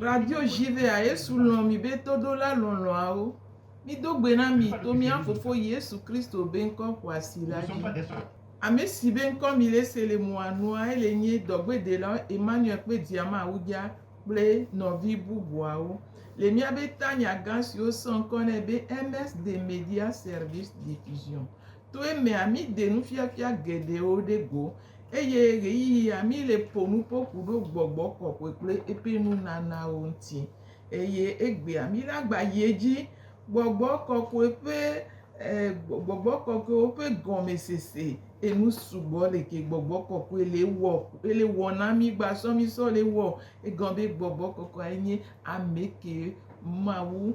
Radio Jivea, Yesu lɔ̃ mi be toɖola lɔlɔ̃awo. Mido gbe na mi to mía Fofo Yesu Kristo be ŋkɔ xɔasi la dzi. Ame si be ŋkɔ mi le se le moa nua, ele nye dɔgbedela Emmanuel kple diama awudza kple nɔvi bubuawo. Le mía be tanya gã siwo sɔ ŋkɔ nɛ be MS de Media Service Diffusion. To emea, míde nufiafia geɖewo ɖe go, eye ɣeyiɣia míle ƒo nu ƒo ƒu ɖo gbɔgbɔ kɔkɔe kple eƒe nunanawo ŋuti. Eye egbea, míagba yi edzi gbɔgbɔ kɔkɔe ƒe e gbɔgbɔ kɔkɔewo ƒe gɔmesese. Enu sugbɔ le ke gbɔgbɔ kɔkɔe le wɔ le wɔ na mí gbasɔ mí sɔ le wɔ. Egɔme be gbɔgbɔ kɔkɔe nye ame ke Mawu.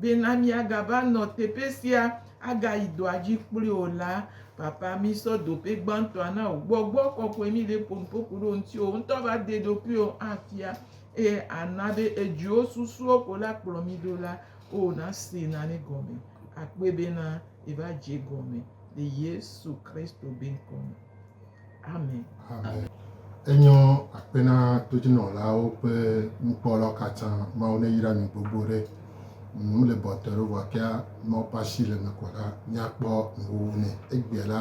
Bena míagava nɔ teƒe sia, agayi dɔa dzi kpli o la, Papa, mísɔ dope gbãtɔa na wò. Gbɔgbɔ kɔkɔe míɖe ƒonuƒo ku ɖe wò ŋuti. Wò ŋutɔ va de ɖokuiwò afia, eye àna be èdzro susuwo ko la kplɔ mí ɖo la, oo, nasee nane gɔme. Akpɔe bena yeva dze egɔme le Yesu Kristo be ŋkɔ me. Amen. Enyɔ akpe na todzinɔlawo kple nukpɔlawo katã. Mawu neyra mi gbogbo ɖe. Nu le bɔtɔ ɖe vɔ kea Mawu ƒe asi le me kɔ la, míakpɔ nuwo nɛ. Egbea la,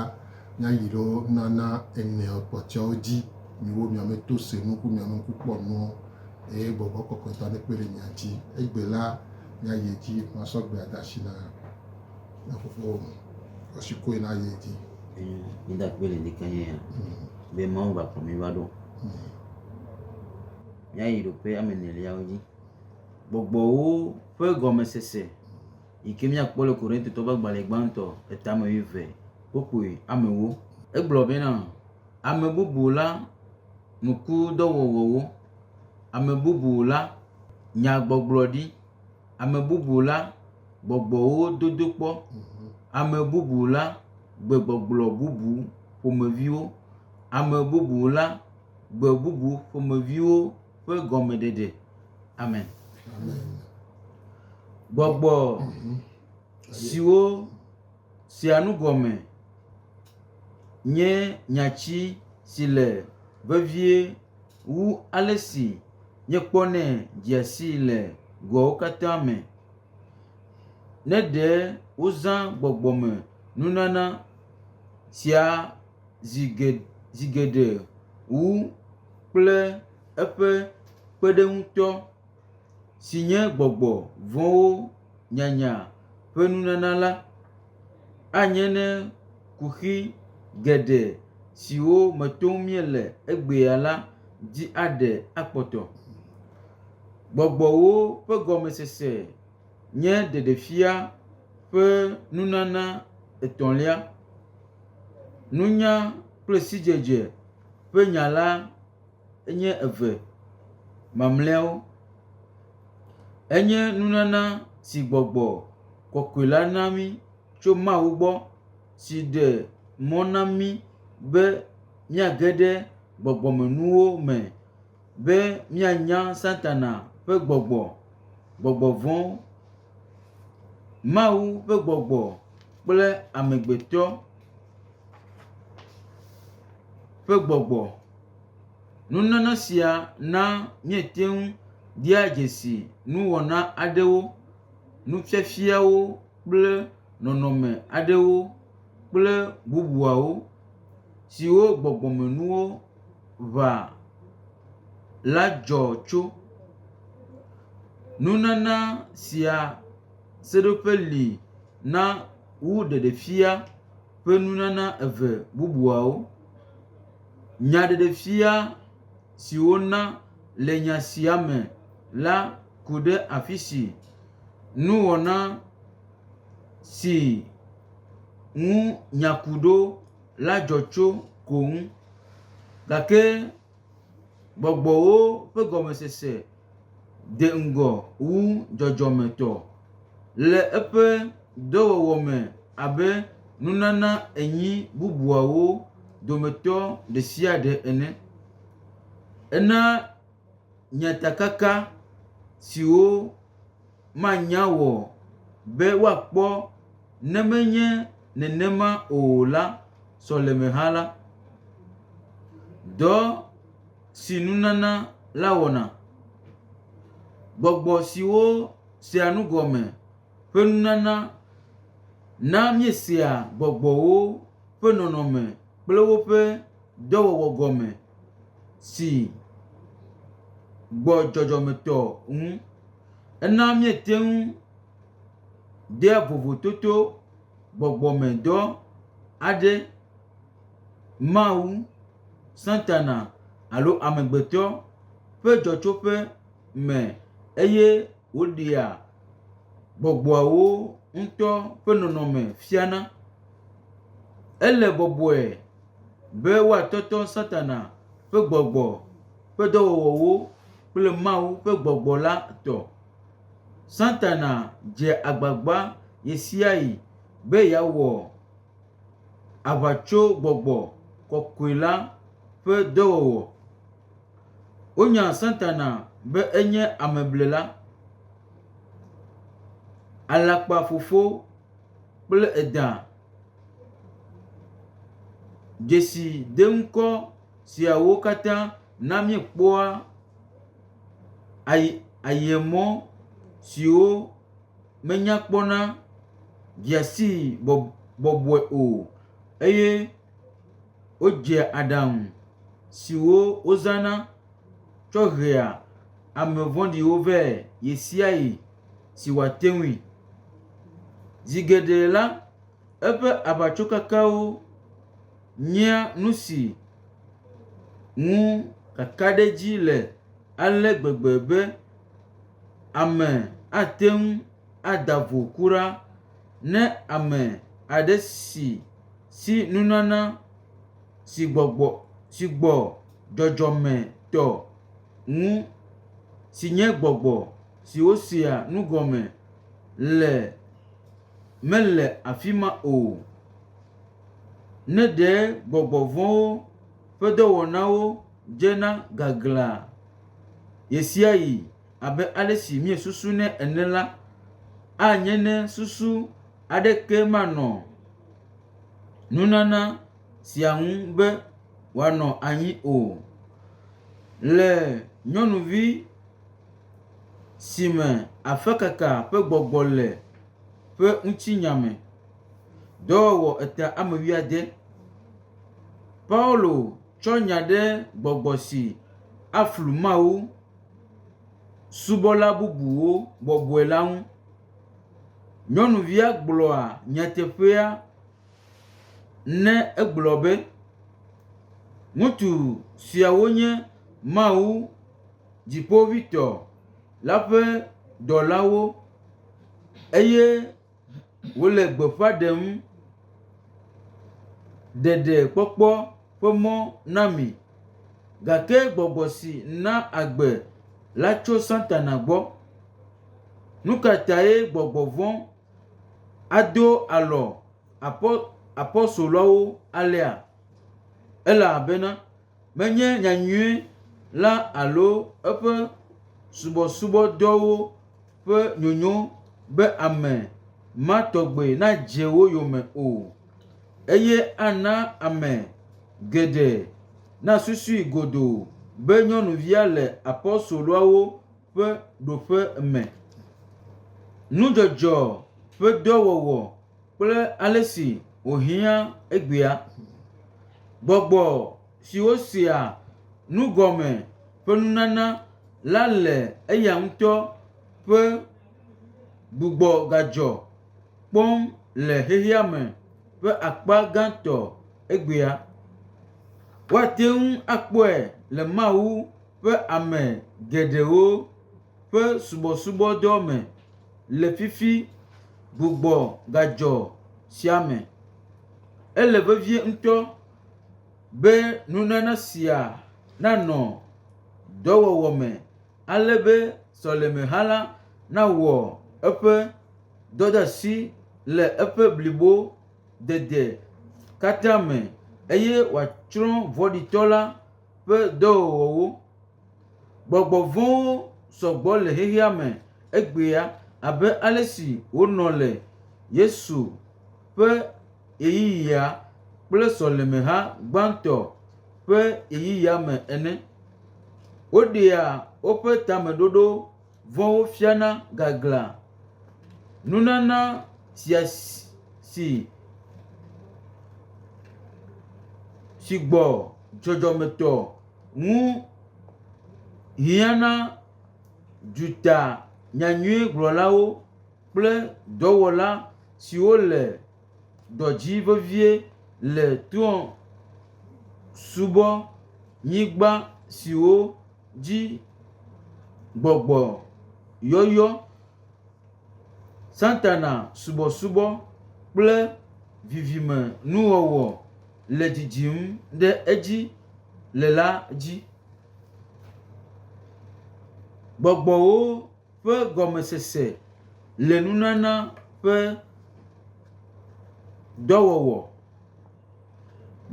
míayi ɖo nana ene kpɔtɔewo dzi. Miwo miame to se nu ku miame ŋku kpɔ nuwo eye gbɔgbɔ kɔkɔetɔ nekpe ɖe mia dzi. Egbe la, míayi edzi masɔ gbea de asi na. Ne fofowo ŋu, asi koe na yi dzi. Ee, mída akpe le ŋdi keŋ ya be Mawu va kplɔ mí va ɖo. Míayi ɖo ƒe ame eneliawo dzi. Gbɔgbɔwo ƒe gɔmesese yi ke míakpɔ le Korintotɔ ƒe agbalẽ gbãtɔ etame wuieve kpokpui amewo. Egblɔ bena, Ame bubu la nukudɔwɔwɔwo, ame bubu la nyagbɔgblɔɖi. ame bubu la gbɔgbɔwo dodo kpɔ, ame bubu la gbegbɔgblɔ bubu ƒomeviwo, ame bubu la gbe bubu ƒomeviwo ƒe gɔmeɖeɖe. Amen. Gbɔgbɔ siwo sia nu gɔme nye nyati si le vevie Wu ale si míekpɔnɛ dzea sii le goawo katã me, ne ɖe wozã gbɔgbɔmenunana sia zi geɖe wu kple eƒe kpeɖeŋutɔ, si nye gbɔgbɔ vɔ̃wo nyanya ƒe nunana la. Anye ne kuxi geɖe siwo me tom míele egbea la dzi aɖe akpɔtɔ. Gbɔgbɔwo ƒe gɔmesese nye ɖeɖefia ƒe nunana etɔ̃lia. Nunya kple sidzedze ƒe nya la. enye eve mamlɛawo. Enye nunana si gbɔgbɔ kɔkɔe la na mí tso Mawu gbɔ si ɖe mɔ na mí be míage ɖe gbɔgbɔmenuwo me be míanya Satana ƒe gbɔgbɔ, gbɔgbɔ vɔ̃wo, Mawu ƒe gbɔgbɔ kple amegbetɔ ƒe gbɔgbɔ. Nunana sia na míete ŋu dia dzesi nuwɔna aɖewo, nufiafiawo kple nɔnɔme aɖewo kple bubuawo siwo gbɔgbɔmenuwo ʋã la dzɔ tso. Nunana sia seɖoƒe li na wu ɖeɖefia ƒe nunana eve bubuawo. Nyaɖeɖefia si wona le nya sia me la ku ɖe afisi nuwɔna si ŋu nya ku ɖo la dzɔ tso ko ŋu. Gake gbɔgbɔwo ƒe gɔmesese. de ŋgɔ wu dzɔdzɔmetɔ le eƒe dɔwɔwɔ me abe nunana enyi bubuawo dometɔ ɖe sia ɖe ene. Ena nyatakaka siwo manya wɔ be woakpɔ ne menye nenema o la sɔlemehã la. Dɔ. si nunana la wɔna. Gbɔgbɔ siwo sea nu gɔme ƒe nunana na míesea gbɔgbɔwo ƒe nɔnɔme kple woƒe dɔwɔwɔ gɔme si gbɔ dzɔdzɔmetɔ ŋu. Ena míete ŋu dea vovototo gbɔgbɔmedɔ aɖe. Mawu, Satana, alo amegbetɔ ƒe dzɔtsoƒe me eye woɖea gbɔgbɔawo ŋutɔ ƒe nɔnɔme fiana. Ele bɔbɔe be woatɔtɔ Satana ƒe gbɔgbɔ ƒe dɔwɔwɔwo kple Mawu ƒe gbɔgbɔ la tɔ. Satana dzea agbagba ɣesiaɣi be yeawɔ aʋatsogbɔgbɔ kɔkɔe la ƒe dɔwɔwɔ. Wonya Satana be enye ameblela, alakpafofo kple edã. Dzesideŋkɔ siawo katã na míekpɔa ayi ayemɔ siwo. menya kpɔna dzea sii bɔbɔe o eye wodzea aɖaŋu siwo wozãna tsɔ hea ame vɔ̃ɖiwo vɛ ɣesiaɣi si wòate ŋui. Zi geɖe la, eƒe aʋatsokekewo nyea nu si ŋu kakaɖedzi le ale gbegbe be, Ame ate ŋu ada vo kura ne ame aɖe si si nunana si gbɔgbɔ si gbɔ dzɔdzɔme tɔ ŋu si nye gbɔgbɔ si wosea nu gɔme le mele afi ma o. Ne ɖe gbɔgbɔ vɔ̃wo. ƒe dɔwɔnawo dzena gaglãa ɣesiaɣi abe ale si miesusunɛ ene la, anye ne susu aɖeke manɔ nunana sia ŋu be wòanɔ anyi o. Le nyɔnuvi si me afekaka ƒe gbɔgbɔ le ƒe ŋutinya me, dɔwɔwɔ etea ame wuiade. Paulo tsɔ nya ɖe gbɔgbɔ si aflu Mawu subɔla bubuwo bɔbɔe la ŋu. Nyɔnuvia gblɔa nyateƒea ne egblɔ be, Ŋutsu siawo nye Mawu Dziƒoʋĩtɔ la ƒe dɔlawo eye wole gbeƒã ɖem ɖeɖekpɔkpɔ ƒe mɔ na mi gake gbɔgbɔ si na agbe la tso Satana gbɔ. Nu ka tae gbɔgbɔ vɔ̃ ado alɔ apo… apostoloawo alea? Ele abena, menye nyanyui la alo eƒe subɔsubɔdɔwo ƒe nyonyo be ame ma tɔgbe nadze wo yome o, eye ana ame geɖe nasusui godoo be nyɔnuvia le apostoloawo ƒe ɖoƒe me. Nudzɔdzɔ ƒe dɔ wɔwɔ. kple ale si wòhiã egbea. Gbɔgbɔ siwo sea nu gɔme ƒe nunana la le eya ŋutɔ ƒe gbugbɔgadzɔ kpɔm le xexeame ƒe akpa gãtɔ egbea. Woate ŋu akpɔe le Mawu ƒe ame geɖewo ƒe subɔsubɔdɔ me le fifi gbugbɔ gadzɔ sia me. Ele vevie ŋutɔ be nunana sia nanɔ dɔwɔwɔ me ale be sɔlemeha la nawɔ eƒe dɔdeasi le eƒe blibo dede katã me eye wòatsrɔ̃ vɔ̃ɖitɔ la ƒe dɔwɔwɔwo. Gbɔgbɔ vɔ̃wo sɔ gbɔ le xexea me egbea abe ale si wonɔ le Yesu ƒe ɣeyiɣia kple sɔlemeha gbãtɔ ƒe ɣeyiɣia me ene. Woɖea woƒe tameɖoɖo. Vɔ wofiana gaglã. Nunana sia si si gbɔ dzɔdzɔmetɔ ŋu hiãna dutanyanyuigblɔlawo kple dɔwɔla siwo le ɖɔ dzi vevie le trɔ̃subɔnyigba siwo dzi gbɔgbɔ yɔyɔ, Satana subɔsubɔ kple vivimenuwɔwɔ le dzidzim ɖe edzi le la dzi. Gbɔgbɔwo. ƒe gɔmesese le nunana ƒe dɔwɔwɔ.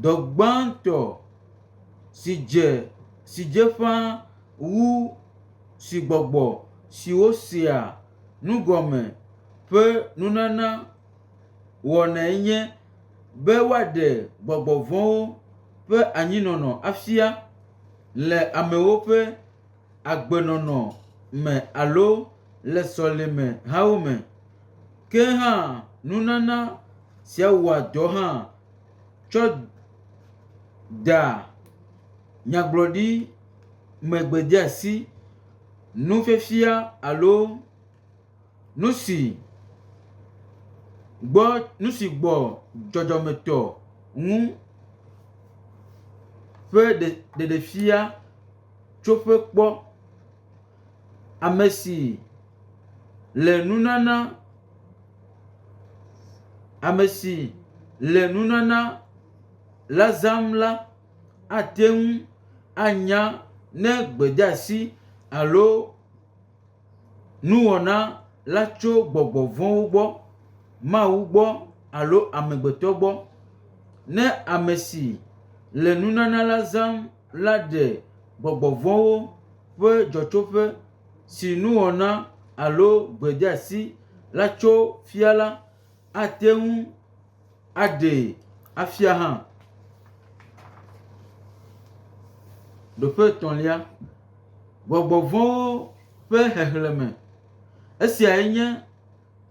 Dɔ gbãtɔ si dze si dze ƒã wu si gbɔgbɔ siwo sea nu gɔme ƒe nunana wɔnae nye be woaɖe gbɔgbɔ vɔ̃wo ƒe anyinɔnɔ afia le amewo ƒe agbenɔnɔ me alo le sɔlemehawo me. Ke hã nunana sia wɔa dɔ hã tsɔ da nyagblɔɖi megbedeasi, nufiafia alo nu si gbɔ nu si gbɔ dzɔdzɔmetɔ ŋu ƒe ɖe ɖeɖefia. tsoƒe kpɔ ame si le nunana, ame si le nunana la zãm la ate ŋu anya ne gbedeasi alo nuwɔna la tso gbɔgbɔ vɔ̃wo gbɔ, Mawu gbɔ alo amegbetɔ gbɔ. Ne ame si le nunana la zãm. la ɖe gbɔgbɔ vɔ̃wo ƒe dzɔtsoƒe si nuwɔna alo gbedeasi la tso fia la, ate ŋu aɖee afia hã. Ɖoƒe etɔ̃lia, gbɔgbɔ vɔ̃wo ƒe xexlẽme. Esiae nye.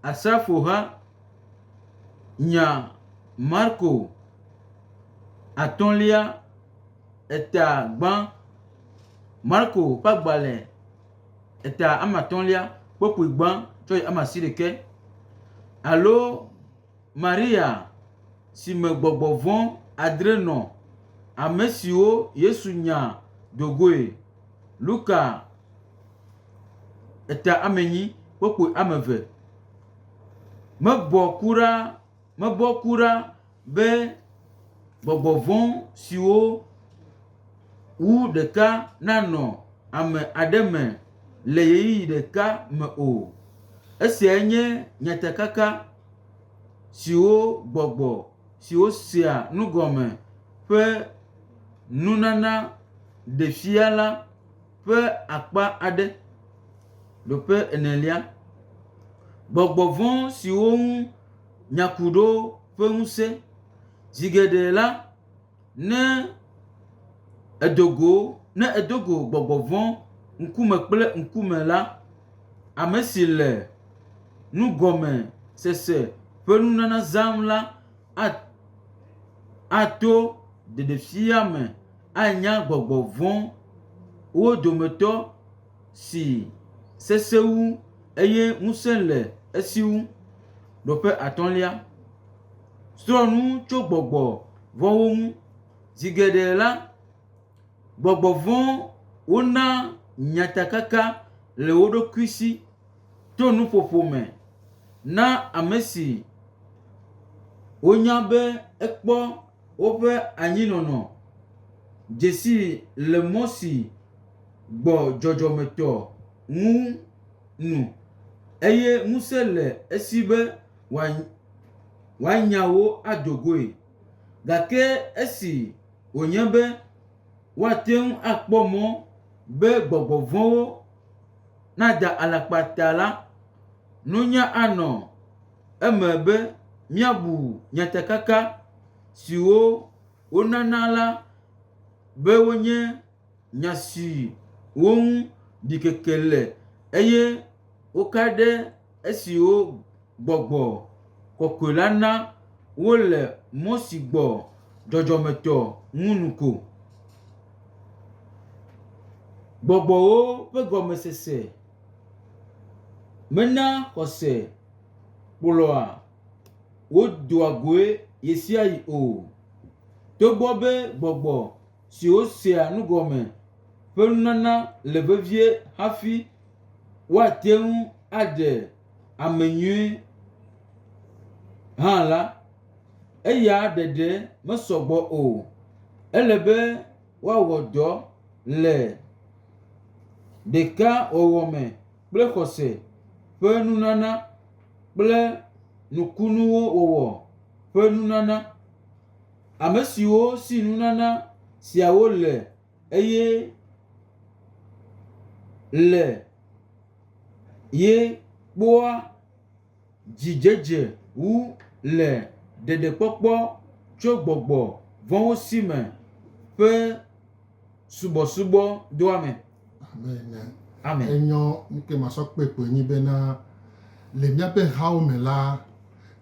Asrafoha nya Marko atɔ̃lia eta gbã. Marko ƒe agbalẽ eta ame atɔ̃lia kpukpui gbã tsɔ yi ame asiɖekɛ alo Maria si me gbɔgbɔ vɔ̃ adre nɔ, ame siwo Yesu nya do goe. Luka eta ame nyi kpokpui ame eve. Mebɔ ku ɖa, mebɔ ku ɖa be gbɔgbɔ vɔ̃ siwo wu ɖeka nanɔ ame aɖe me le ɣeyiɣi ɖeka me o. Esiae nye nyatakaka siwo gbɔgbɔ. siwo sea nu gɔme ƒe nunana ɖe fia la ƒe akpa aɖe. Ɖoƒe enelia, gbɔgbɔ vɔ̃ siwo ŋu nya ku ɖo ƒe ŋusẽ. Zi geɖe la, Ne èdo go, ne èdo go gbɔgbɔ vɔ̃ ŋkume kple ŋkume la, ame si le nugɔmesese ƒe nunana zãm la ato ɖeɖefia me anya gbɔgbɔ vɔ̃wo dometɔ si sesẽ wu eye ŋusẽ le esi wu. Nɔƒe atɔ̃lia, srɔ̃ nu tso gbɔgbɔ vɔ̃wo ŋu. Zi geɖe la, gbɔgbɔ vɔ̃wo na nyatakaka le wo ɖokui si to nuƒoƒo me na ame si wonya be ekpɔ woƒe anyinɔnɔ dzesi le mɔ si. gbɔ dzɔdzɔmetɔ ŋu nu, eye ŋusẽ le esi be wòanya wo ado goe. Gake esi wònye be woate ŋu akpɔ mɔ be gbɔgbɔ vɔ̃wo nada alakpa ta la, nunya anɔ eme be míabu nyatakaka siwo wonana la be wonye. nya siwo ŋu ɖikeke le, eye woka ɖe esiwo gbɔgbɔ kɔkɔe la na wole mɔ si gbɔ dzɔdzɔmetɔ ŋu nu ko. Gbɔgbɔwo ƒe gɔmesese mena xɔse kplɔa wo doa goe ɣesiaɣi o, togbɔ be gbɔgbɔ… si wosea nu gɔme ƒe nunana le vevie hafi woate ŋu aɖe ame nyui hã la, eya ɖeɖe mesɔ gbɔ o. Ele be woawɔ dɔ le ɖekawɔwɔ me kple xɔse ƒe nunana kple nukunuwo wɔwɔ ƒe nunana. Ame siwo si nunana siawo le eye le ye kpɔa dzidzedze wu le ɖeɖekpɔkpɔ tso gbɔgbɔ vɔ̃wo si me ƒe subɔsubɔ doa me. Amen. Amen. Enyɔ nuke masɔ kpe kpoe nyi bena le míaƒe hawo me la,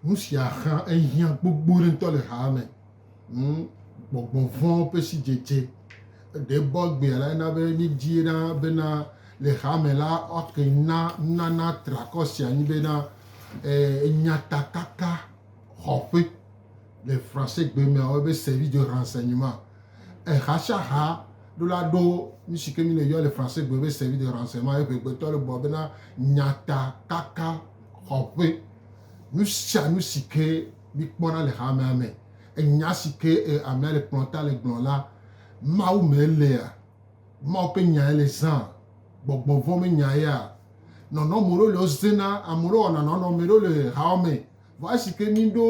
nu sia xã ehiã gbogbo ɖe ŋutɔ le haa me. Hmm, gbɔgbɔ vɔ̃ ƒe sidzedze ɖe bɔ egbea la ena be míedie ɖa bena le haa me la woake na nunana triakɔ sia nyi bena eh, enyatakaka xɔƒe. Le Fransegbe mea, woyɔɛ be service de renseignement. Ehashaha ɖo la ɖo nu si ke mi le yɔ le Fransegbe be service de renseignement ye ŋɛgbetɔ le bua bena nyata kaka xɔƒe. Nu sia nu si ke mi kpɔna le hamea me, enya si ke amea le kplɔ ta le gblɔ la, Mawu me elea? Mawu ƒe nyae le zãa? Gbɔgbɔ vɔ̃ me nyaea? Nɔnɔ me ɖewo le wo zena, ame ɖewo wɔna nɔnɔ, ame ɖewo le hawɔme. Vɔ esike mìɖo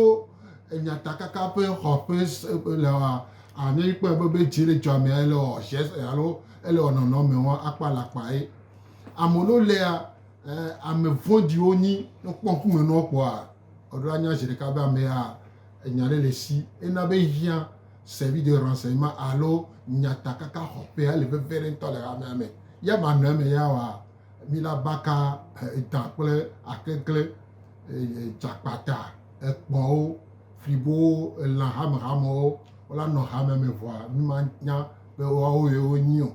nyatakaka ƒe xɔƒe leɔa, anye mìkpɔe be be ci ɖe dzɔa mea ele wɔ ʒe se alo ele wɔ nɔnɔmewo akpa le akpa ye. Ame ɖewo lia, ame vɔ̃ɖiwo nyi. Ne wokpɔ ŋkume na wo kpɔa, woɖo anya zeɖeka be ame ya enya ɖe le esi. Ena be ehiã service de renseignement alo nyatakaka xɔƒea ele veve ɖe ŋutɔ le hamea me. Ye manɔ eme ya wɔa, mìla baka edã kple akeklẽ. dzakpata, ekpɔwo, flibowo, elã hamehamewo la nɔ hame me vɔa mí ma nya be woawo ye wo nyi o.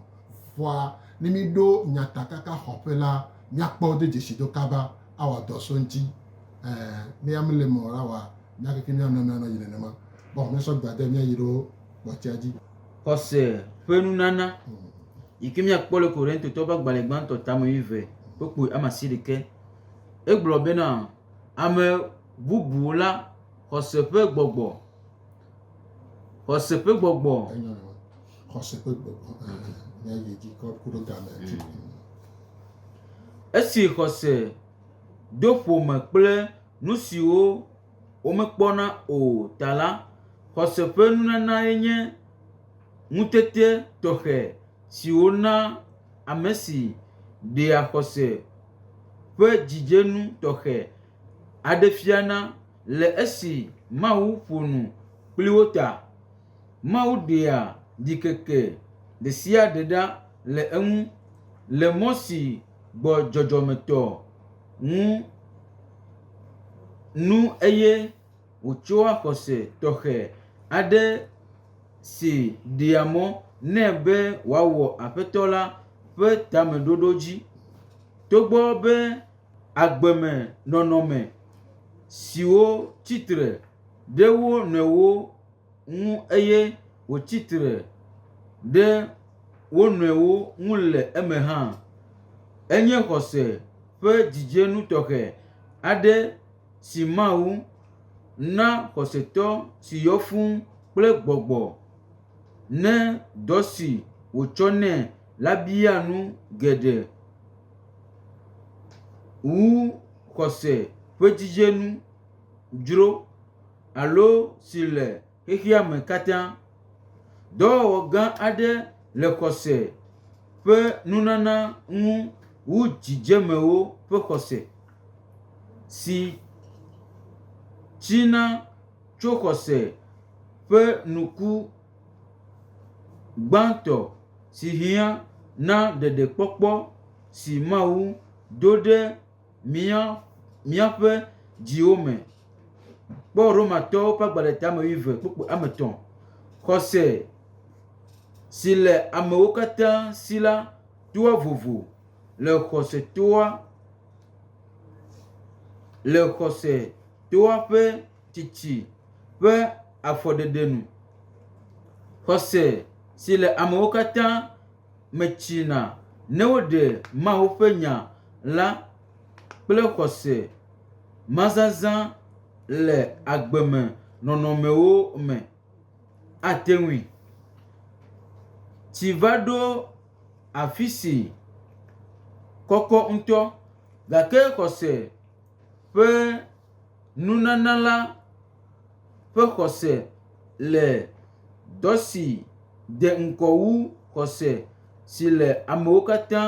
Vɔa ne mí ɖo nyatakaka xɔƒe la, mía kpɔ wo do dzesi do kaba a wɔ dɔ so eŋuti. Ɛ ne yea mí le eme o la wa mía keke mía nɔnɔe anɔ yi nenema. Kpɔ mía sɔ gbe ade mía yi ɖo kpɔtsia dzi. Xɔse ƒe nunana yike mía kpɔ le Korintotɔwo ƒe agbalẽ gbãtɔ tame wuieve kpukpui ame asiɖekɛ. Egblɔ bena, Ame bubu la, xɔse ƒe gbɔgbɔ, xɔse ƒe gbɔgbɔ. Enyo nɔ. Xɔse ƒe gbɔgbɔ. Ne yi dzi kɔ ku ɖe game. Esi xɔse do ƒome kple nu siwo womekpɔna o ta la, xɔse ƒe nunanae nye ŋutete tɔxɛ siwo na ame si ɖea xɔse ƒe dzidzenu tɔxɛ aɖe fiana le esi Mawu ƒo nu kpli wo ta. Mawu ɖea ɖikeke ɖe sia ɖe ɖa le eŋu le mɔ si gbɔ dzɔdzɔmetɔ ŋu nu eye wòtsɔa xɔse tɔxɛ aɖe si ɖea mɔ nɛ be wòawɔ Aƒetɔ la ƒe tameɖoɖo dzi. Togbɔ be agbe me nɔnɔme siwo tsi tre ɖe wo nɔewo ŋu eye wotsi tre ɖe wo nɔewo ŋu le eme hã, enye xɔse ƒe dzidzenu tɔxɛ aɖe. si Mawu na xɔsetɔ si yɔ fũu kple gbɔgbɔ ne dɔ si wòtsɔ nɛ la bia nu geɖe wu xɔse ƒe dzidzenu dzro alo si le. Xexea me katã, dɔwɔwɔ gã aɖe le xɔse ƒe nunana ŋu wu dzidzemewo ƒe xɔse, si tsina tso xɔse ƒe nuku gbãtɔ si hiã na ɖeɖekpɔkpɔ si Mawu do ɖe mía míaƒe dziwo me. Kpɔ Romatɔwo ƒe agbalẽtame wuieve kpukpui ame etɔ̃. Xɔse si le amewo katã si la toa vovo le xɔse toa le xɔse toa ƒe tsitsi ƒe afɔɖeɖe nu. Xɔse si le amewo katã. metsina ne woɖe Mawu ƒe Nya la kple xɔse mazazã le agbe me nɔnɔmewo me. Ate ŋui. Tsi va ɖo afi si kɔkɔ ŋutɔ gake xɔse. ƒe nunana la ƒe xɔse le dɔ si de ŋkɔ wu xɔse si le amewo katã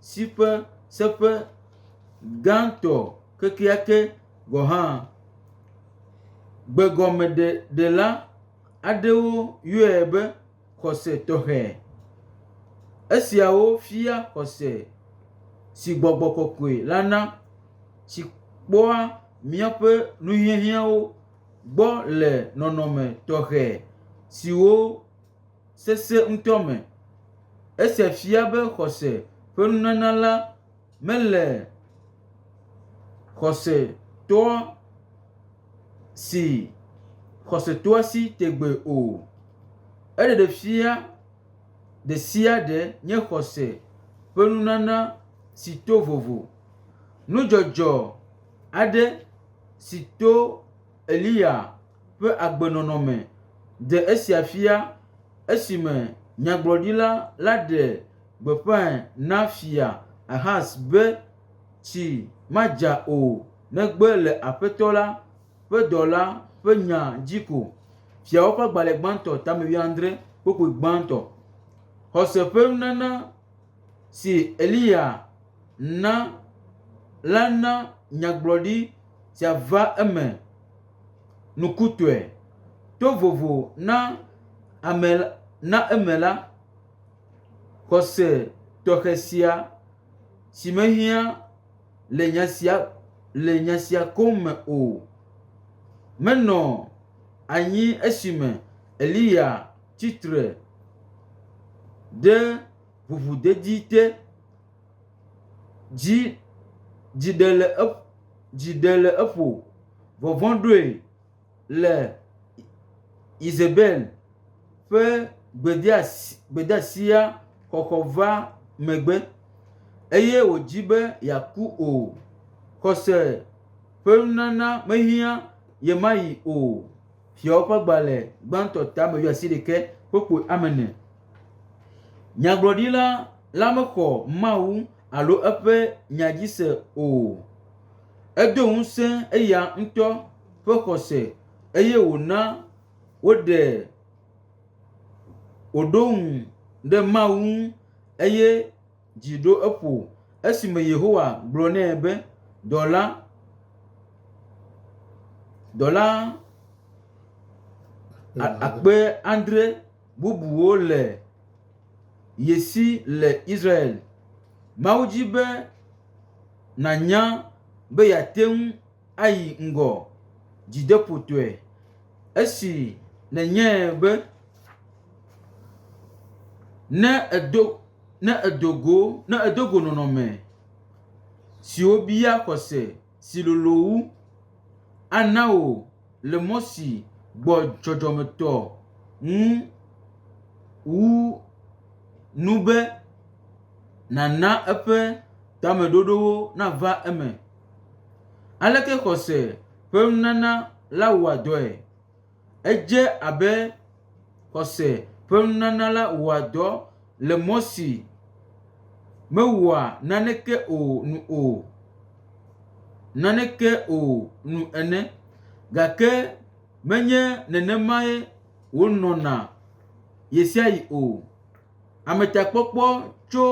si ƒe seƒe gãtɔ kekeake gɔ̃ hã. Gbegɔmeɖela aɖewo yɔe be, xɔse tɔxɛ. Esiawo fia xɔse si gbɔgbɔ kɔkɔe la na si kpɔa míaƒe nuhiahiãwo gbɔ le nɔnɔme tɔxɛ siwo sesẽ ŋutɔ me. Esia fia be xɔse ƒe nunana la Mele xɔsetɔa si xɔsetɔa si tegbee o. Eɖeɖefia ɖesiaɖe nye xɔse ƒe nunana si to vovo. Nudzɔdzɔ aɖe si to Eliya ƒe agbenɔnɔ me ɖe esia fia esime nyagblɔɖila la ɖe gbeƒãe na Fia Ahaz be, Tsi madza o, negbe le Aƒetɔ la ƒe dɔla ƒe nya dzi ko. Fiawo ƒe agbalẽ gbãtɔ tame wuiadre, kpukpui gbãtɔ. Xɔse ƒe nunana si Eliya na la na nyagblɔɖi sia va eme nukutɔe. To vovo na ame na eme la, Xɔse tɔxɛ sia, si mehiã le nya sia koŋ me o, menɔ anyi esime Eliya tsi tre ɖe ʋuʋudedi te. Dzi ɖe le eƒo, vɔvɔ̃ ɖoe. le Yezebel ƒe gbedeasia xɔxɔ va megbe, eye wòdi be yeaku o. Xɔse ƒe nunana mehiã ye ma ɣi o. Fiawo ƒe agbalẽ gbãtɔ tame ƒe asiɖeke ƒe ƒo ame ene. Nyagblɔɖila la mexɔ Mawu alo eƒe nya dzi se o. Edo ŋusẽ eya ŋutɔ. ƒe xɔse eye wòna woɖe wòɖo ŋu ɖe Mawu ŋu eye dzi ɖo eƒo esime Yehowa gblɔ nɛ be, “Dɔla, dɔla akpe adre bubuwo le ye si le Israel. Mawu di be nànya be yeate ŋu ayi ŋgɔ dzideƒotɔe esi nenye be ne èdo ne èdo go ne èdo go nɔnɔme siwo bia xɔse si lolo wu ana wò le mɔ si gbɔ dzɔdzɔmetɔ ŋu wu nu be nàna eƒe tameɖoɖowo nava eme. Aleke xɔse ƒe nunana la wɔa dɔe? Edze abe xɔse ƒe nunana la wɔa dɔ le mɔ si mewɔa naneke o nu o - naneke o nu ene. Gake menye nenemae wònɔna ɣesiaɣi o. Ametakpɔkpɔ tso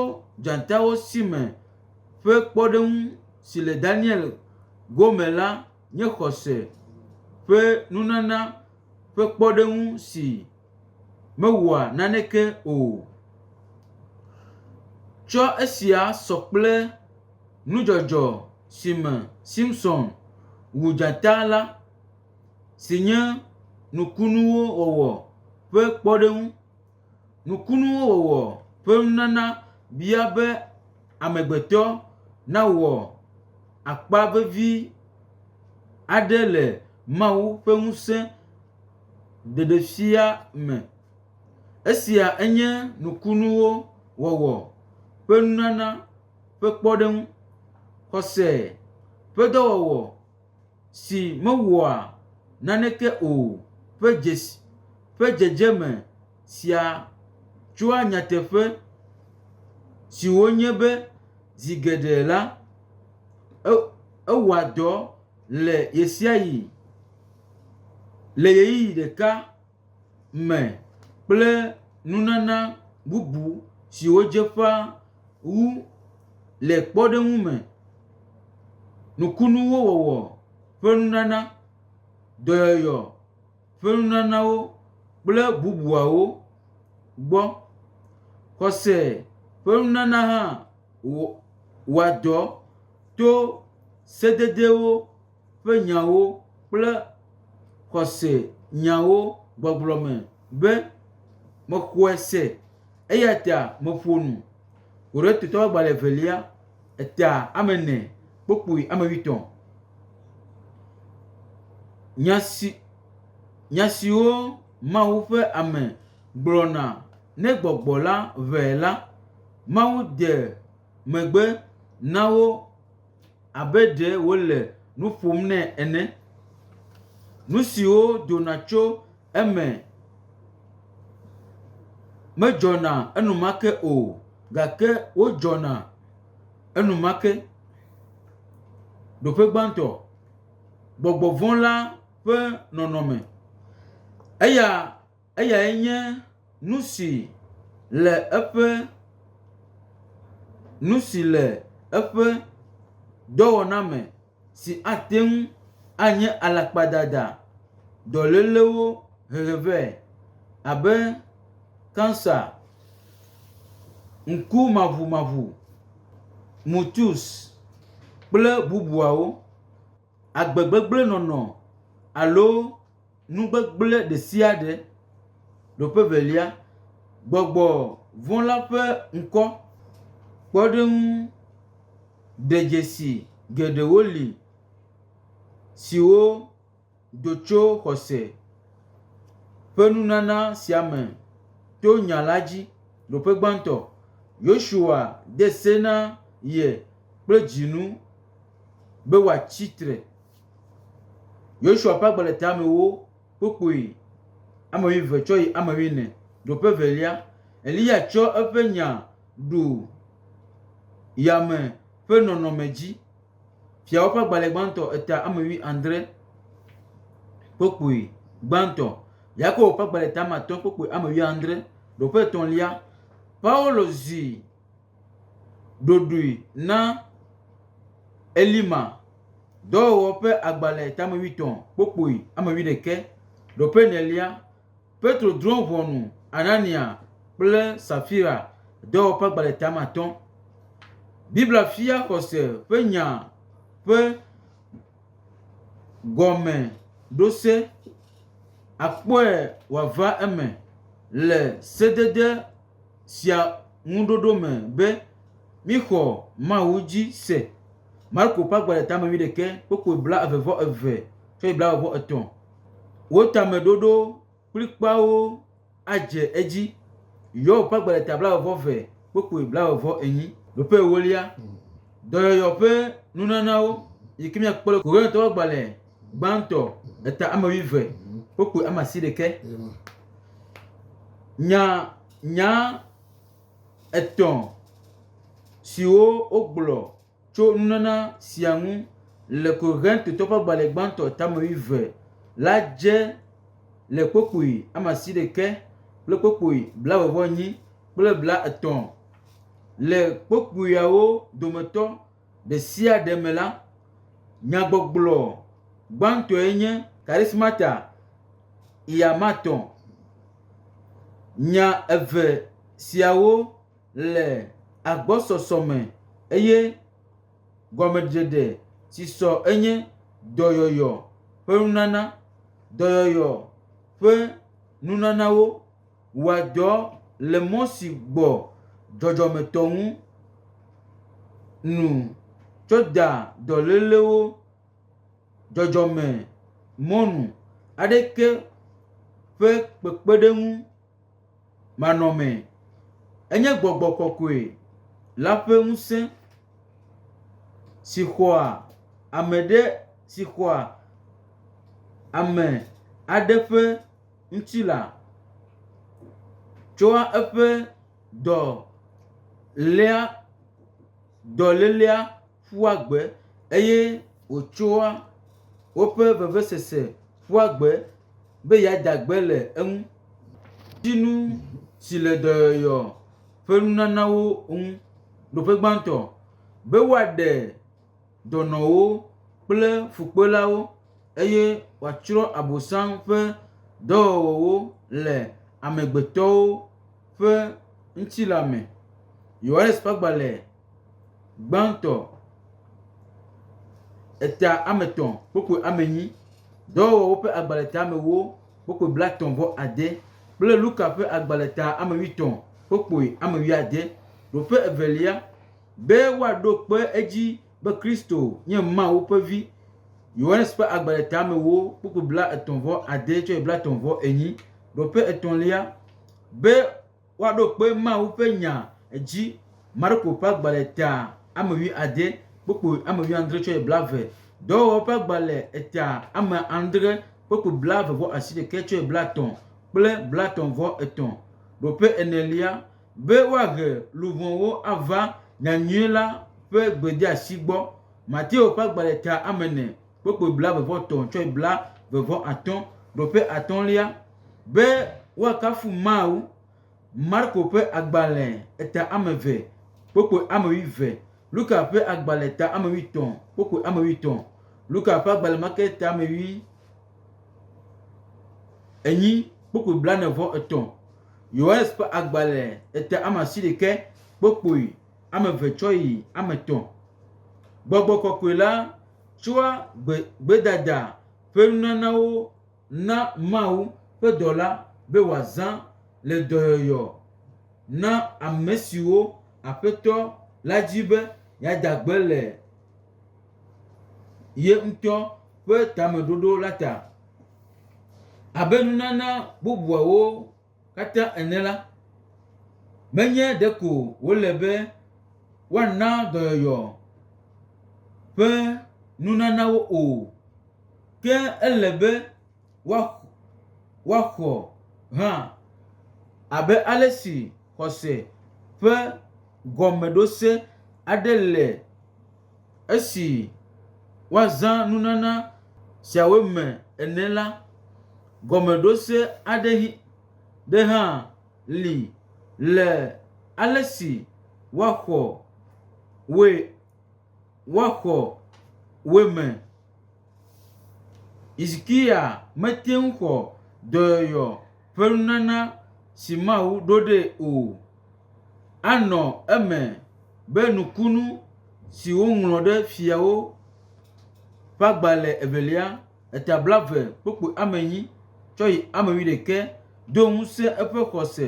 dzatawo si me ƒe kpɔɖeŋu si le Daniel go me la nye xɔse ƒe nunana ƒe kpɔɖeŋu si mewɔa naneke o. Tsɔ esia sɔ kple nudzɔdzɔ si me Simson wu dzata la si nye nukunuwo wɔwɔ ƒe kpɔɖeŋu. Nukunuwo wɔwɔ ƒe nunana bia be amegbetɔ nawɔ akpa vevi aɖe le Mawu ƒe ŋusẽ ɖeɖefia me. Esia enye nukunuwo wɔwɔ ƒe nunana ƒe kpɔɖeŋu. Xɔse ƒe dɔwɔwɔ. si mewɔa naneke o ƒe dzedzeme sia tsɔa nyateƒe siwo nye be zi geɖe la, ewɔa dɔ le ɣesiaɣi le ɣeyiɣi ɖeka. me kple nunana bubu siwo dze ƒã wu le kpɔɖeŋu me, nukunuwo wɔwɔ ƒe nunana, dɔyɔyɔ ƒe nunanawo kple bubuawo gbɔ. Xɔse ƒe nunana hã wɔ wɔa dɔ to sededewo. ƒe nyawo kple xɔse nyawo gbɔgblɔ me be, Mexɔe se, eya ta meƒo nu. Korintatɔ ƒe agbalẽ evelia, eta ame ene, kpukpui ame wuietɔ̃. Nya si, nya siwo Mawu ƒe ame gblɔna ne gbɔgbɔ la ʋãe la, Mawu de megbe na wo. abe ɖe wole nu ƒom nɛ ene. Nu siwo dona tso eme medzɔna enumake o gake wodzɔna enumake. Ɖoƒe gbãtɔ, gbɔgbɔ vɔ̃ la ƒe nɔnɔme. Eya Eyae nye nu si le eƒe, nu si le eƒe dɔwɔna me si ate ŋu anye alakpadada dɔlélewo hehe vɛ, abe kansa, ŋkumaʋumaʋu, mutus, kple bubuawo, agbegbegblẽnɔnɔ, alo. Nu gbegblẽ ɖe sia ɖe. Nɔƒe evelia, gbɔgbɔ vɔ̃ la ƒe ŋkɔ kpɔɖeŋu ɖedzesi geɖewo li siwo do tso xɔse ƒe nunana sia me to nya la dzi. Nɔƒe gbãtɔ, Yosua de se na ye kple dzinu be wòatsi tre. Yosua ƒe agbledeamewo kpukpui ame wuieve tsɔ yi ame wuiene. Ɖo ƒe velia, Eliya tsɔ eƒe nya ɖu yame ƒe nɔnɔme dzi. Fiawo ƒe agbalẽ gbãtɔ eta ame wuiadre kpukpui gbãtɔ. Yakobo ƒe agbalẽ eta ame atɔ̃ kpukpui ame wuiadre. Ɖo ƒe etɔ̃lia, Paulo zi. ɖoɖoe na Elima, dɔwɔwɔ ƒe agbalẽ tame wuietɔ̃, kpokpoi ame wuiɖekɛ, ɖoƒe enelia. Petro drɔ̃ ʋɔnu Anania kple Safira, dɔwɔwɔ ƒe agbalẽ tame atɔ̃. Biblia fia xɔse ƒe nya ƒe gɔmeɖose, akpɔe wòava eme le sedede. sia ŋuɖoɖo me be míxɔ Mawu dzi se. Marko ƒe agbalẽ tame wuiɖekɛ kpokpui blaeve vɔ eve tsɔ yi blaeve vɔ etɔ̃. Wo tameɖoɖo kplikpaawo adze edzi. Yob ƒe agbalẽ ta blaeve vɔ eve kpokpui blaeve vɔ enyi. Nɔƒe ewolia, Dɔyɔyɔ ƒe nunanawo yi ke míakpɔ le Korintatɔwo ƒe agbalẽ gbãtɔ eta ame wuieve wokpoe ame asiɖekɛ nya nya etɔ̃ siwo wogblɔ tso nunana sia ŋu le Korintatɔwo ƒe agbalẽ gbãtɔ eta ame wuieve la dze le kpukpui ame asiɖekɛ kple kpukpui blaeve vɔ enyi kple blaetɔ̃ le kpukpuiawo dometɔ ɖesiaɖe me la, nyagbɔgblɔ gbãtɔe nye Charismata Iamatɔ̃. Nya eve siawo le agbɔsɔsɔ me eye gɔmeɖeɖe si sɔ enye dɔyɔyɔ ƒe nunana, dɔyɔyɔ ƒe nunanawo. Wɔa dɔ le mɔ si gbɔ dzɔdzɔmetɔ ŋu nu tso da dɔlélewo dzɔdzɔme mɔ nu aɖeke ƒe kpekpeɖeŋu manɔme. Enye gbɔgbɔ kɔkɔe la ƒe ŋusẽ si xɔa ame ɖe si xɔa ame aɖe ƒe. ŋutilã tsɔa eƒe dɔ léa dɔlélea ƒua gbe eye wòtsɔa woƒe vevesese ƒua gbe be yeada gbe le eŋu. Ŋutinu si le dɔyɔyɔ ƒe nunanawo ŋu. Nɔƒe gbãtɔ be woaɖe. dɔnɔwo kple fukpelawo eye wòatsrɔ̃ Abosam ƒe dɔwɔwɔwo le amegbetɔwo ƒe ŋutilã me. Yohanes ƒe agbalẽ gbãtɔ, eta ame etɔ̃ kpukpui ame enyi, dɔwɔwɔwo ƒe agbalẽ eta ame ewo kpukpui blaetɔ̃ vɔ ade kple Luka ƒe agbalẽ eta ame wuietɔ̃ kpukpui ame wuiade. Ɖoƒe evelia. Be woaɖo kpe edzi be Kristo nye Mawu ƒe Vi. Yohanes ƒe agbalẽtamewo kpukpui blaetɔ̃ vɔ ade tsɔe blaetɔ̃ vɔ enyi. Ɖoƒe etɔ̃lia, be woaɖo kpe Mawu ƒe nya edzi. Marko ƒe agbalẽ ta ame wui ade kpukpui ame wui andre tsɔe blave. Dɔwɔwɔwo ƒe agbalẽ eta ame andre kpukpui blave vɔ asiɖeke tsɔe blatɔ̃ kple blatɔ̃ vɔ etɔ̃. Ɖoƒe enelia, Be woahe luʋɔwo ava nyanyui la ƒe gbedeasi gbɔ. Mateo ƒe agbalẽtea ame ene kpokpoe blaeve-vɔ-etɔ̃ tsɔe blaeve-vɔ-atɔ̃ ɖo ƒe atɔ̃lia. Be woakafu Mawu. Marko ƒe agbalẽ eta ame eve kpokpoe ame wuieve. Luka ƒe agbalẽ ta ame wuietɔ̃ kpokpoe ame wuietɔ̃. Luka ƒe agbalẽ ma ke ta ame wui enyi kpokpoe blane-vɔ-etɔ̃. Yohanes ƒe agbalẽ ete ame asiɖeke kpokpoe, ame eve tsɔ yi ame etɔ̃. Gbɔgbɔ kɔkɔe la tsɔa gbe, gbedada ƒe nunanawo na Mawu ƒe dɔla be wòazã le dɔyɔyɔ na ame siwo Aƒetɔ la di be yeada gbe le ye ŋutɔ ƒe tameɖoɖo la ta. Abe nunana bubuawo katã ene la, menye ɖeko wòle be woana dɔyɔyɔ ƒe nunanawo o, ke ele be woax, woaxɔ hã abe ale si. Xɔse ƒe gɔmeɖose aɖe le esi woazã nunana siawo me ene la, gɔmeɖose aɖe hi ɖe hã li le ale si woaxɔ woe woaxɔ woe me. Hizikiya mete ŋu xɔ dɔyɔyɔ. ƒe nunana si Mawu ɖo ɖee o. Anɔ eme be nukunu si woŋlɔ ɖe Fiawo ƒe agbalẽ evelia, eta blaeve kpukpui ame enyi tsɔ yi ame wuiɖekɛ do ŋusẽ eƒe xɔse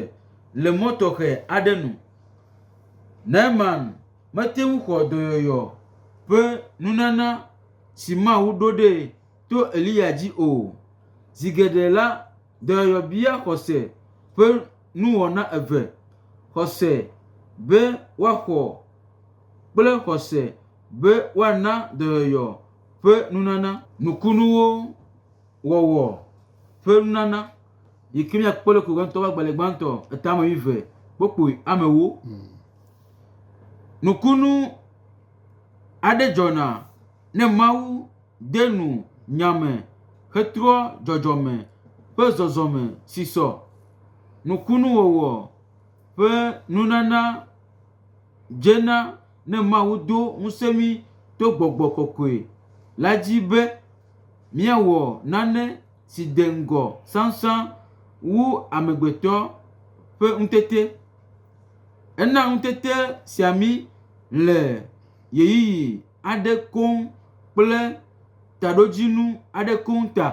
le mɔ tɔxɛ aɖe nu. Naaman mete ŋu xɔ dɔyɔyɔ ƒe nunana si Mawu ɖo ɖee o. to Eliya dzi o. Zi geɖe la, dɔyɔyɔ bia xɔse ƒe nuwɔna eve, xɔse be woaxɔ kple xɔse be woana dɔyɔyɔ ƒe nunana. Nukunuwo wɔwɔ ƒe nunana yi ke míakpɔ le Korinto ƒe agbalẽ gbãtɔ etame wuieve kpokpoe amewo. Nukunu aɖe dzɔna ne Mawu de nu nya me hetrɔ dzɔdzɔme ƒe zɔzɔme si sɔ nukunuwɔwɔ ƒe nunana dze na ne Mawu do ŋusẽ mí to gbɔgbɔ kɔkɔe la dzi be míawɔ nane si de ŋgɔ sãsã wu amegbetɔ ƒe ŋutete. Ena ŋutete sia mí le ɣeyiɣi. aɖe koŋ kple taɖodzinu aɖe koŋ ta.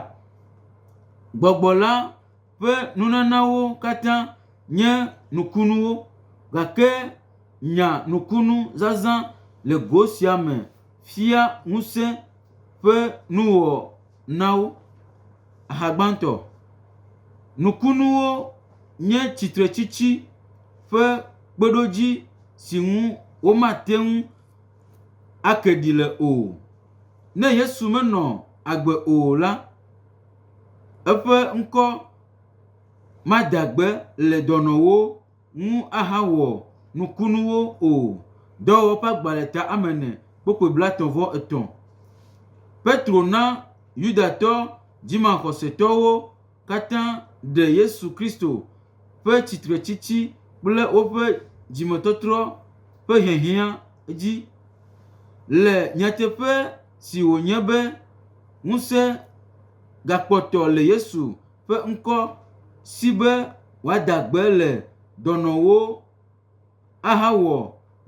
Gbɔgbɔ la ƒe nunanawo katã nye nukunuwo gake nya nukunu zazã le go sia me fia ŋusẽ ƒe nuwɔnawo. Aha gbãtɔ. Nukunuwo nye tsitretsitsi ƒe kpeɖodzi si ŋu womate ŋu. ake ɖi le o. Ne Yesu menɔ agbe o la, eƒe ŋkɔ mada gbe le dɔnɔwo ŋu ahawɔ nukunuwo o. Dɔwɔwɔ ƒe agbalẽta ame ene kpokploe blaetɔ̃ vɔ etɔ̃. Petro na Yudatɔ dzimaxɔsetɔwo. katã ɖe Yesu Kristo ƒe tsitretsitsi kple woƒe dzimetɔtrɔ ƒe hiahiã dzi. Le nyateƒe si wònye be ŋusẽ gakpɔtɔ le Yesu ƒe ŋkɔ si be wòada gbe le dɔnɔwo, ahawɔ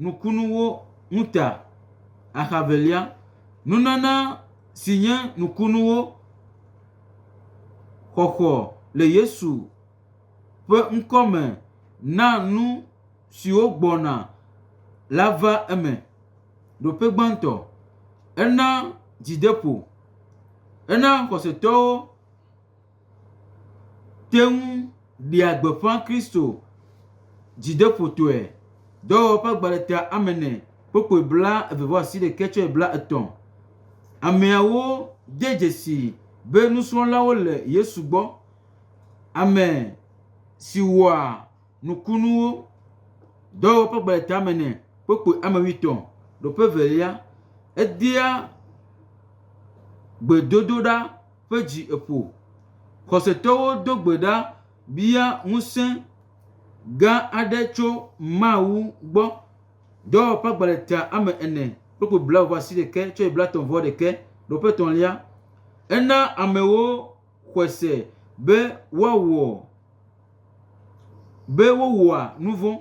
nukunuwo ŋu ta. Axa evelia, nunana si nye nukunuwo xɔxɔ le Yesu ƒe ŋkɔ me na nu siwo gbɔna la va eme. Ɖoƒe gbãtɔ, ena dzideƒo. Ena xɔsetɔwo. te ŋu ɖea gbeƒã Kristo dzideƒotɔe. Dɔwɔwɔ ƒe agbalẽtia ame ene kpokploe blaeve-vɔ-asiɖekɛ tsɔe blaetɔ̃. Ameawo de dzesii be nusrɔ̃lawo le Yesu gbɔ, ame si wɔa nukunuwo. Dɔwɔwɔ ƒe agbalẽtia ame ene kpokploe ame wuietɔ̃. Nɔ ƒe evelia, edea gbedodoɖa. ƒe dzi eƒo. Xɔsetɔwo do gbe ɖa bia ŋusẽ gã aɖe tso Mawu gbɔ. Dɔwɔƒe agbalẽ tea ame ene, kpukpui blaeve ƒe asi ɖeke, tsɔe blaetɔ̃ vɔ ɖeke, ɖewo ƒe etɔ̃lia. Ena amewo xɔe se be woawɔ be wowɔa nu vɔ̃.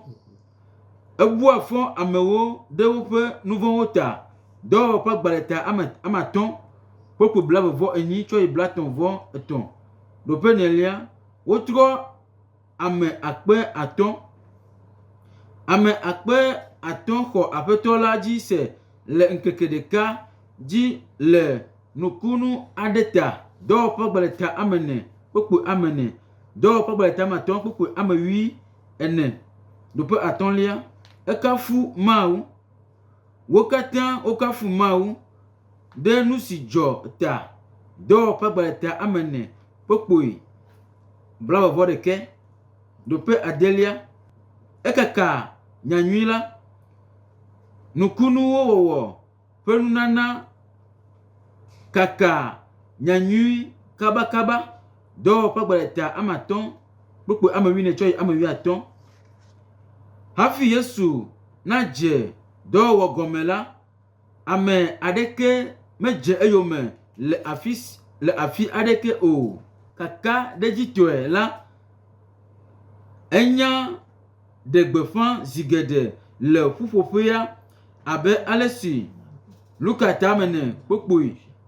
Ebua fɔ amewo ɖe woƒe nu vɔ̃wo ta. Dɔwɔwɔ ƒe agbalẽta ame ame atɔ̃ kple ƒo blaeve-vɔ-enyi tsɔ yi blaetɔ̃-vɔ-etɔ̃. Ɖo ƒe nelia, wotrɔ ame akpe atɔ̃. Ame akpe atɔ̃ xɔ Aƒetɔ la dzi se le ŋkeke ɖeka dzi le nukunu aɖe ta. Dɔwɔwɔ ƒe agbalẽta ame ene kple ƒo ame ene. Dɔwɔƒe Gbadatamatɔ̃ kpukpui ame wui ene do ƒe atɔ̃lia, ekafu Mawu. Wo katã wokafu Mawu ɖe nu si dzɔ ta. Dɔwɔƒe Gbadata ame ene kpukpui blaeve-vɔ-ɖekɛ do ƒe adelia, ekaka nyanyui la, nukunuwo wɔwɔ. ƒe nunana kakaa nyanyui kabakaba, dɔwɔƒe gbadada ame atɔ kpukpɔ ame wuiene tsɔ yi ame wuiatɔ. Hafi Yesu nadze dɔwɔwɔ gɔme la, ame aɖeke medze eyome le afi si le afi aɖeke o. Kakaɖedzitɔe la, enya. ɖe gbeƒã zi geɖe le ƒuƒoƒea abe ale si Luka tamene kpokpoi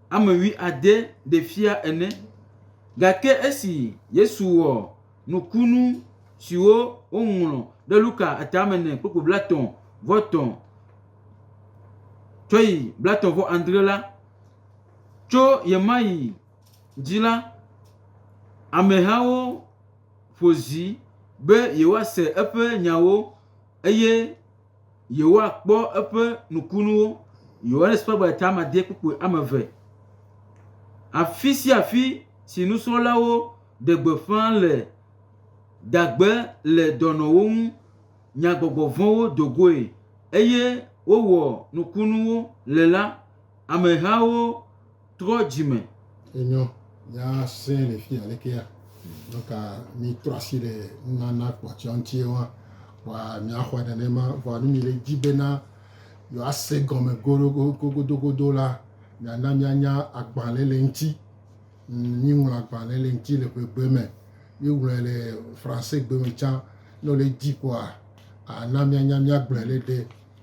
ame wui ade ɖe fia ene. Gake esi Yesu wɔ nukunu siwo woŋlɔ ɖe Luka tamene kpokpoi blatɔ̃ vɔ etɔ̃ tsɔ yi blatɔ̃ vɔ adre la, tso ɣemaɣi dzi la, amehawo. ƒo zi be yewoase eƒe nyawo eye yewoakpɔ eƒe nukunuwo. Yohanes ƒe agbatamadede kpukpui ame eve. Afi sia afi si nusrɔ̃lawo ɖe gbeƒã le dagbe le dɔnɔwo ŋu nyagbɔgbɔ vɔ̃wo do goe eye wowɔ nukunuwo le la, amehawo Trɔ dzi me. Enyɔ, mía sẽ le fia lekea. Nuka mí trɔ asi le nunana kpɔtsia ŋuti wa? Wa mía xɔe nenema. Vɔa nu mí le dzi bena yewoa se gɔme godogodogodo la, mía na mía nya agbalẽ le ŋuti. Mí ŋlɔ agbalẽ le ŋuti le ƒegbe me. Mí ŋlɔe le Français gbe me tsã. Ne wole dzi kpɔa, a na mía nya mía gblɔe le ɖe.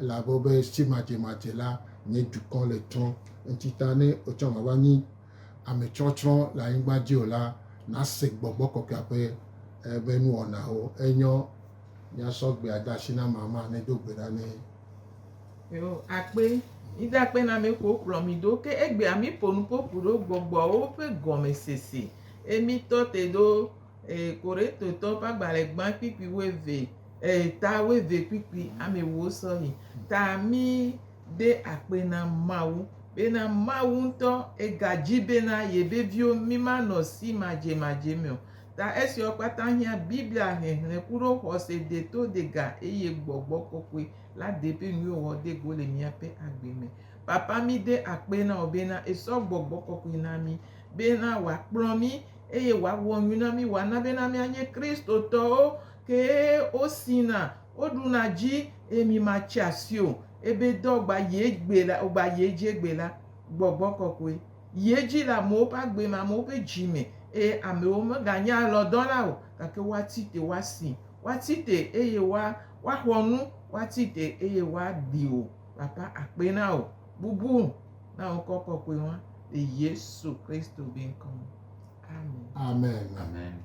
Elabe be si madzemadze la nye dukɔ le tsrɔ̃, ŋtita ne otsɔ ŋava nyi ame tsrɔtsrɔ̃ le anyigba dzi o la, nase Gbɔgbɔ Kɔkɔea ƒe ebe nuwɔnawo. Enyɔ miasɔ gbea de asi na mama ne do gbe ɖa nɛ. Yo akpe, mide akpe na me ko kplɔ mi ɖo ke egbea mi ƒo nuƒoƒu ɖo gbɔgbɔwo ƒe gɔme sese. E mi tɔ te ɖo e Korintotɔwo ƒe agbalẽ gbã kpikpui wuieve Eyi ta woeve kpikpi amɛwo sɔyi ta mí ɖe akpe na Mawu bena Mawu ŋutɔ ega dji bena yebe viwo mí ma nɔ si madje madje mɛ o. Ta esiawo kpata hiã Biblia hehlẽ kuɖo xɔse de to de ga eye gbɔgbɔ kɔkɔe la de ƒe nuyo wɔ de go le mía ƒe agbe me. Papa mí de akpe na wò bena esɔ gbɔgbɔ kɔkɔe na mí bena wòakplɔ mí eye wòawɔ nu na mí wòana bena mía nye Kristotɔwo Kee o sina, o ɖuna dji emi ma tsi asi o, ebe dɔ gba yi egbe la, o gba yi edji egbe la, gbɔgbɔ kɔkɔe yi edji le amewo ƒe agbe me, amewo ƒe dji me, eye amewo me ga nye alɔ dɔ la o, gake woa tsi te, woa si, woa tsi te eye woa, woa xɔ nu, woa tsi te eye woa ɖi o. Papa akpe na wò, bubu na wò ŋkɔ kɔkɔe wa, le Yesu Kristo be ŋkɔ me. Amen. Amen. Amen.